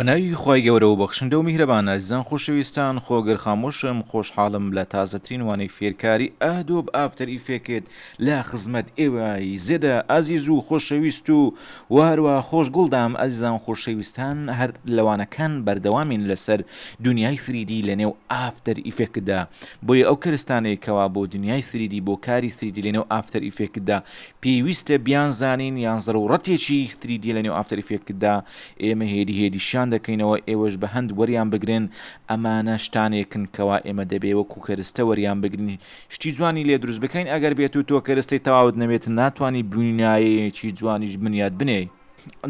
بە ناوی خی گەورە و بەخشندە و میهرەبانە زان خۆشەویستان خۆگەر خامۆشم خۆشحاڵم لە تازەترین وانەی فێرکاری ئەهدۆب ئافتەری فێکت لە خزمەت ئێوەی زێدە ئازیز و خۆشەویست و و هەروا خۆش گوڵ دام ئەزیزان خۆشەویستان هەر لەوانەکان بەردەوامین لەسەر دنیای سریدی لە نێو ئافتەر ئیفێکتدا بۆیە ئەو کەرستانەی کەوا بۆ دنیای سریدی بۆ کاری سریدی لە نێو ئافتەر ئیفێکتدا پێویستە بیان زانین یان زەرورەتێکی سریدی لە نێو ئافتەر ئیفێکتدا ئێمە هێدی هێدیشان دەکەینەوە ئێوەش بە هەند وەریان بگرن ئەمانە شتانێکن کەوا ئێمە دەبێ وەکو کەرستە وەریان بگرین شتی جوانی لێ دروست بکەین ئەگەر بێت و تۆ کەرستەی تەواوت نەبێت ناتوانی بنایەیەکی جوانیش بنیات بنێی.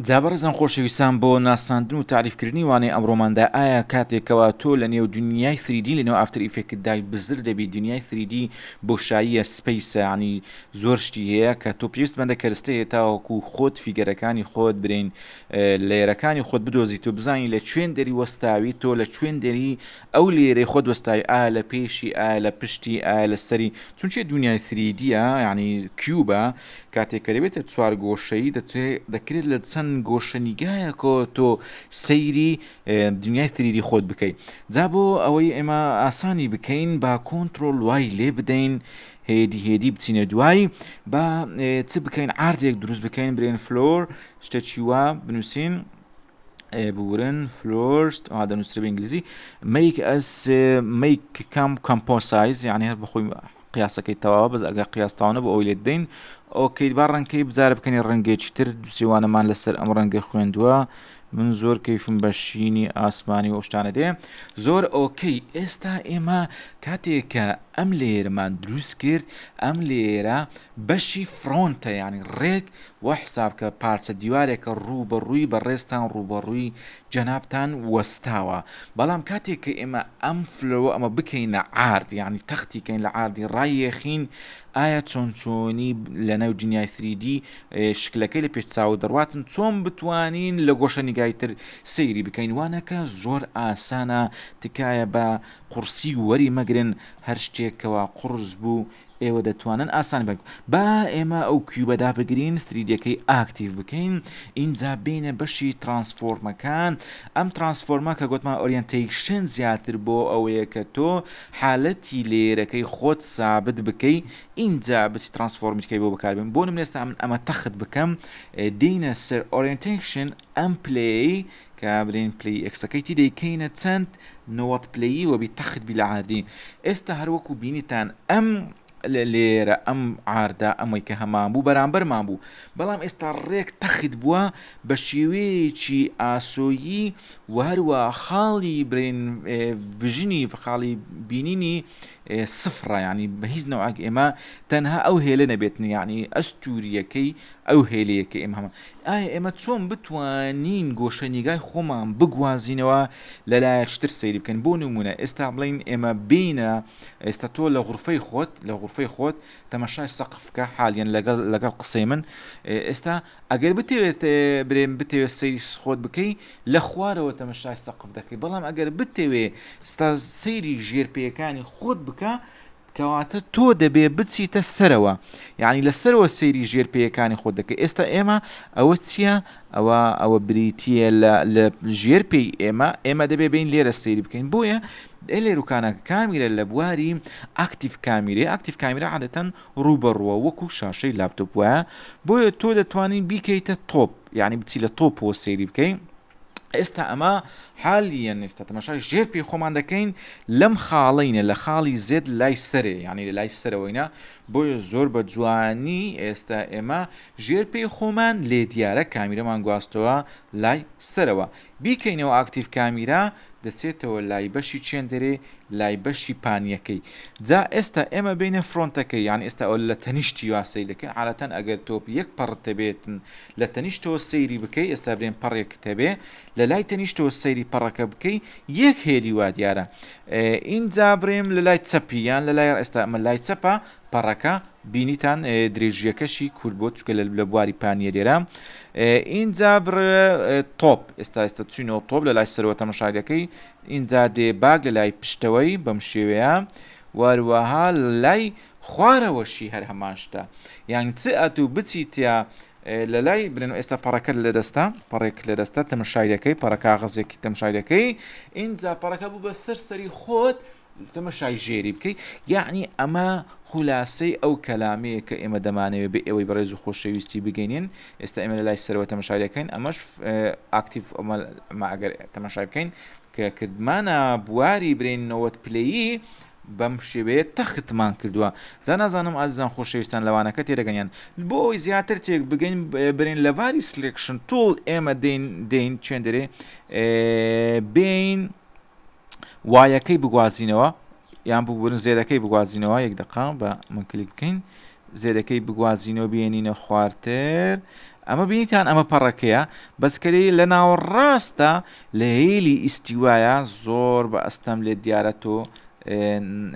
جا بەڕێزان خۆشەویستان بۆ ناساندن و تاریف کردنی وانەی ئەمڕۆماندا ئایا کاتێک کەوا تۆ لە نێو دنیای سریدی لە نێو ئافتەر ئیفێکتدا بزر دەبی دنیای سریدی بۆشاییە سپەیسە یانی زۆر شتی هەیە کە تۆ پێویست مەندە کەرستە هەیە تاوەکو خۆت فیگەرەکانی خۆت برین لەیەرەکانی خۆت بدۆزیت و بزانی لە چوێن دەری وەستاوی تۆ لە چوێن دەری ئەو لێرەی خۆت وەستای ئایا لە پێشی ئایا لە پشتی ئایا لە سەری چونچێ دنیای سریدیە یعنی کیوبە کاتێکەرەبێتە چوار گۆشەی دەکرێت لە چەند گۆشەنیگایەکۆ تۆ سەیری دنیای سریدی خۆت بکەیت جا بۆ ئەوەی ئێمە ئاسانی بکەین با کۆنتترۆل وای لێ بدەین هێدی هێدی بچینە دوایی با چ بکەین ئاردێک دروست بکەین برێن فلۆر شتێکی وا بنووسین بورن فلۆرست دەنووسرە بە ئینگلیزی میک ئەس میک کام کەمپۆسایز یعنی هەر بەخۆی قیاسەکەی تەواوە بەس ئەگە قیاستاونە بۆ ئەوی لێ دەین ئۆکەیت با ڕەنکەی بزار بکەنی ڕەنگێکی تر دوسیوانەمان لەسەر ئەم ڕەنگە خوێندووە من زۆر کەیفم بە شینی ئاسمانی و شتانە دێ زۆر ئۆکەی ئێستا ئێمە کاتێکە ئەم لێرمان دروست کرد ئەم لێرە بەشی فرۆنتە یانی ڕێک وا حساب کە پارچە دیوارێکە ڕوو بە ڕووی بەڕێزتان ڕووبەڕووی جەنابتان وەستاوە بەڵام کاتێک کە ئێمە ئەم فلۆ ئەمە بکەینە عارد یانی تەختی کەین لە عاردی ڕایەخین ئایا چۆن چۆنی لە ناو دنیای سریدی شکلەکەی لە پێش چاو دەڕاتن چۆن بتوانین لە گۆشە نیگای تر سەیری بکەین وانەکە زۆر ئاسانە تکایە بە قورسی وەری مەگرن هەر شتێکەوە قڕز بوو ئێوە دەتوانن ئاسان بەرگ با ئێمە ئەو کیوبە دابگرین ثریدیەکەی ئاکتیڤ بکەین ئینجا بینە بەشی ترانسفۆرمەکان ئەم ترانسفۆرمە کە گوتمان ئۆریەنتەیشن زیاتر بۆ ئەوەیە کە تۆ حالەتی لێرەکەی خۆت سابت بکەی ئینجا بچی ترانسفۆرمیتکەی بۆ بەکاربن بۆ نمێستا من ئەمە تەخت بکەم دینە سەر ئۆریەنتەیشن ئەم پلەی کە برین پلەی ئێکسەکەی تی دەیکەینە چەند نەوەد پلەیی وەبی تەخت بی لە عاردین ئێستا هەروەکو بینیتان ئەم لێرە ئەم عاردە ئەمەی کە هەمان بوو بەرامبەرمان بوو بەڵام ئێستا ڕێک تەخت بووە بە شێوەیەکی ئاسۆیی و هەروە خاڵی برین ڤژنی خاڵی بینینی سفرە ینی بە هیچ نەوەک ئێمە تەنها ئەو هێلە نەبێتنی ینی ئەستوریەکەی ئەو هێلەیە کە ئێمە هەمە ئایا ئێمە چۆن بتوانین گۆشەنیگای خۆمان بگوازینەوە لەلایە چتر سەیری بکەن بۆ نمونە ئێستا بڵین ئێمە بینە ئێستا تۆ لە غرفەی خۆت لە غرفەی خۆت تەمەشای سەقفکە حالیان لەگەڵ لەگەڵ قسەی من ئێستا ئەگەر بتەوێت برێن بتەوێت سەیری خۆت بکەی لە خوارەوە تەمەشای سەقف دەکەی بەڵام ئەگەر بتەوێ ستا سەیری ژێر پێەکانی خۆت بکە کەواتە تۆ دەبێ بچیتە سەرەوە یعنی لە سەرەوە سەیری ژێر پێیەکانی خۆ دەکە ئێستا ئێمە ئەوە چییە ئەوە ئەوە بریتە لە ژێر پێی ئێمە ئێمە دەبێ بین لێرە سەیری بکەین بۆیە لێروکانە کامیرە لە بواری ئاکتیف کامیرەی ئاکتیف کامیرە عادەتەن ڕوبەڕوە وەکو شاشەی لاپتۆپ وایە بۆیە تۆ دەتوانین بیکەیتە تۆپ یعنی بچی لە تۆپەوە سەیری بکەین ئێستا ئەمە حالیە نێستا تەمەشای ژێر پێی خۆمان دەکەین لەم خاڵینە لە خاڵی زێت لای سەرێ یعنی لە لای سەرەوەینە بۆیە زۆر بە جوانی ئێستا ئێمە ژێر پێی خۆمان لێ دیارە کامیرەمان گواستەوە لای سەرەوە بیکەینەوە ئاکتیف کامیرا دەسێتەوە لای بەشی چێندەرێ لای بەشی پانیەکەی جا ئێستا ئێمە بینە فرۆنتەکە یان ئێستا ئەو لە تەنیشتی یاسەی دەکەن عادەتەن ئەگەر تۆپ یەک پەڕتە بێتن لە تەنیشتەوە سەیری بکەی ئێستا برێم پەڕێکت هەبێ لەلای تەنیشتەوە سەیری پەڕەکە بکەی یەک هێلی وا دیارە ئینجا برێم لە لای چەپی یان لە لای ئێستا ئەمە لای چەپە پەڕەکە بینیتان درێژیەکەشی کورد بۆ چکە لە بواری پانیە لێرە ئینجا بڕ تۆپ ئێستا ئێستا چینەوە تۆپ لە لای سەرەوە تەمەشارەکەی ئینجا دێ باگ لە لای پشتەوەی بەم شێوەیە وەروەها لای خوارەوەشی هەر هەمان شتە یان چ ئەتوو بچیتە لەلای برێن و ئێستا پەڕەکەت لەدەستە پەڕێک لەدەستە تەمەشایەکەی پەڕە کاغەزێکی تەمشایەکەی ئینجا پەڕەکە بوو بە سەر سەری خۆت تەمەشای ژێری بکەیت یعنی ئەمە خلاصەی ئەو کەلامەیە کە ئێمە دەمانەوێت بە ئێوەی بەڕێز و خۆشەویستی بگەینین ئێستا ئێمە لە لای سەرەوە تەمەشاریەکەین ئەمەش ئاکتیف ئەمەگەر تەمەشای بکەین کە کردمانە بواری برین 90 پلەیی بەم شێوەیە تەختمان کردووە. جا نازانم ئازیزان خۆشەویستان لەوانەکە تێدەگەن یان. بۆ ئەوەی زیاتر تێک بگەین برێن لەباری سلێکشن تول ئێمە دێین دێین چێندرێ بێین وایەکەی بگوازینەوە یان ببورن زێدەکەی بگوازینەوە یەک دقا بە من کلیک بکەین زێدەکەی بگوازینەوە بێنینە خوارتر ئەمە بینیتان ئەمە پەڕەکەیە بەسکەری لە ناوەڕاستە لە هیلی ئیستیوایە زۆر بە ئەستەم لێت دیارە تۆ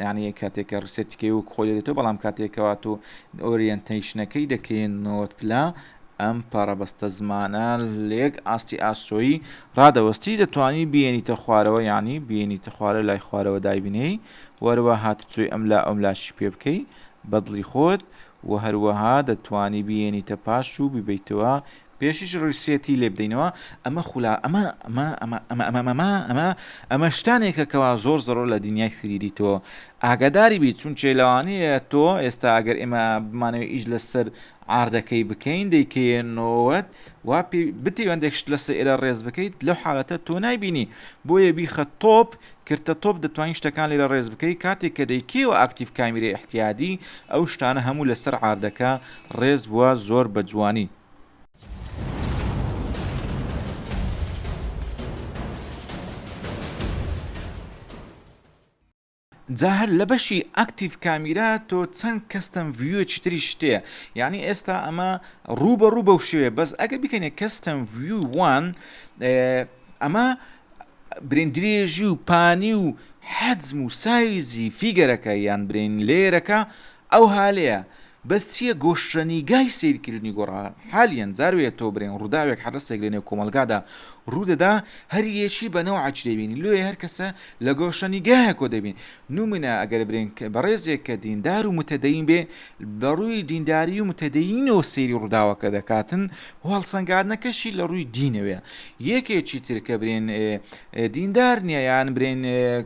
یعنی کاتێک کە ڕسێتیکەی وک خۆ دێتەوە بەڵام کاتێکەوە تۆ ئۆریەنتەیشنەکەی دەکەین نۆت پلا ئەم پەڕەبەستە زمانە لێک ئاستی ئاسۆیی ڕادەوەستی دەتوانی بینیتە خوارەوە یعنی بینیتە خوارە لای خوارەوە دایبنەی وەروە هاتوچۆی ئەم لا ئەم لاشی پێ بکەی بەدڵی خۆت و هەروەها دەتوانی بینیتە پاش و ببیتەوە پێشیش ڕیسێتی لێ بدەینەوە ئەمە خولا ئەمە ئەمە ئەمە ئەمە ئەمە ئەمە ئەمە ئەمە شتانێکە کەوا زۆر زەڕۆ لە دنیای سریری تۆ ئاگاداری بیت چون چێ لەوانەیە تۆ ئێستا ئەگەر ئێمە بمانەوە ئیش لەسەر ئاردەکەی بکەین دەیکەێنەوەت وا بتیوەندێکشت لەسە ئێرە ڕێز بکەیت لەو حالەتە تۆ نایبینی بۆیە بیخە تۆپ کرتە تۆپ دەتوانی شتەکان لێرە ڕێز بکەی کاتێک کە دەی کەیەوە ئاکتیڤ کامیرە احتیادی ئەو شتانە هەموو لەسەر عاردەکە ڕێز بووە زۆر بە جوانی. جا هەر لە بەشی ئاکتیڤ کامیرا تۆ چەند کەستەم ڤیوێکی تریش تێ یعنی ئێستا ئەمە ڕوو بە ڕوو بەو شوێ بەس ئەگە بکەنێ کەستەم ڤیو وان ئەمە برین درێژی و پانی و حەجم و سایزی فیگەرەکە یان برین لەیەرەکە ئەو هالەیە بەس چیە گۆشرەنیگای سەیرکردنی گۆڕا حالیەن جاروێ تۆ برێن ڕووداوێک حەرەسێک لە نێو کۆمەلگادا ڕوودەدا هەریەکی بە نەوعەچ دەبین لۆیە هەرکەسە لە گۆشەنیگایە کۆ دەبین نمونە ئەگەر برێن بەڕێزێک کە دیندار و متەدەین بێ بە ڕووی دینداری و متەدەینەوە سێری ڕووداوەکە دەکاتن و هەڵسەنگاردنەکەشی لە ڕووی دینەوەێ یەکێکی ترکە برێن دیندار نییە یان برێن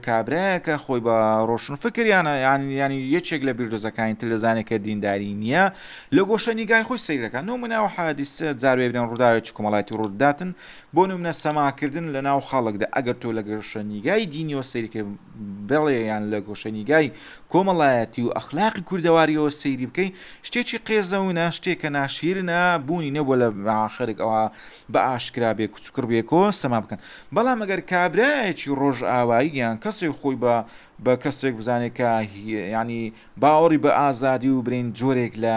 کابراەکە خۆی بە ڕۆشن فکریانە یانیانی یەکێک لە بیردۆزەکانی تر دەزانێت کە دینداری نییە لە گۆشە نیگای خۆی سیرەکە نمونە و حادیسە جاروێ برێن ڕووداوێکی کۆمەڵایەتی ڕووداتن بۆ نمونە سەماکردن لە ناو خەڵکدا ئەگەر تۆ لە گۆشەنیگای دینیەوە سەیری بکەی بڵێ یان لە گۆشەنیگای کۆمەڵایەتی و ئەخلاقی کوردەواریەوە سەیری بکەی شتێکی قێزەونە شتێکە ناشیرنە بوونی نەبووە لە خەرک ئەوە بە ئاشکرا بێ کوچکڕ بێکۆ سەما بکەن بەڵام ئەگەر کابراایەکی ڕۆژ ئاوایی یان کەسێک خۆی بە بە کەسێک بزانێت کە ینی باوەڕی بە ئازادی و برین جۆرێک لە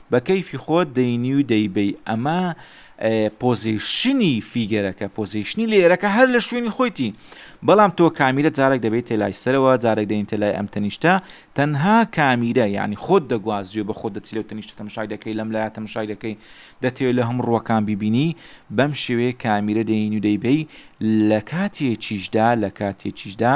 بە کەیفی خۆت دەینی و دەیبەی ئەمە پۆزیشنی فیگەرەکە پۆزیشنی لێرەکە هەر لە شوێنی خۆیتی بەڵام تۆ کامیرە جارێک دەبێت تێلای سەرەوە جارێک دەین تێلای ئەم تەنیشتە تەنها کامیرە ینی خۆت دەگوازیێ بە خۆ دەچی لەو تەنیشتە تەمشای دەکەی لەم لایە تەمشای دەکەی دەتێت لە هەموو ڕوەکان ببینی بەم شێوەیە کامیرە دەین و دەیبەی لە کاتێکیشدا لە کاتێکیشدا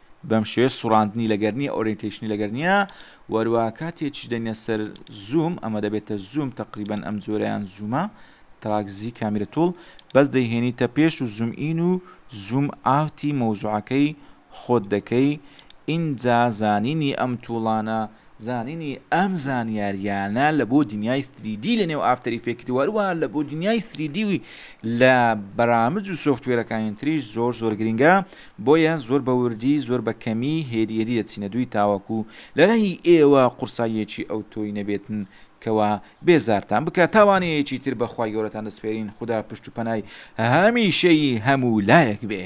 بەم شێوەیە سوڕاندنی لەگەر نییە ئۆرینتەیشنی لەگەر نییە وەروا کاتێکیش دەنیە سەر زووم ئەمە دەبێتە زووم تقریبان ئەم جۆرەیان زوومە تراکزی کامیرە تۆڵ بەس دەیهێنیتە پێش و زووم ئین و زووم ئاوتی مەوزوعەکەی خۆت دەکەی ئینجا زانینی ئەم توڵانە زانینی ئەم زانیاریانە لە بۆ دنیای سری دی لە نێو ئافتەر ئیفێکت و هەروەها لە بۆ دنیای سری دی و لە بەرامج و سۆفتوێرەکانی تریش زۆر زۆر گرنگە بۆیە زۆر بە وردی زۆر بە کەمی هێدی هێدی دەچینە دووی تاوەکو لەلای ئێوە قورساییەکی ئەوتۆی نەبێتن کەوا بێزارتان بکات تاوانەیەکی تر بە خوای گەورەتان دەسپێرین خودا پشت و پەنای هەمیشەیی هەموو لایەک بێ.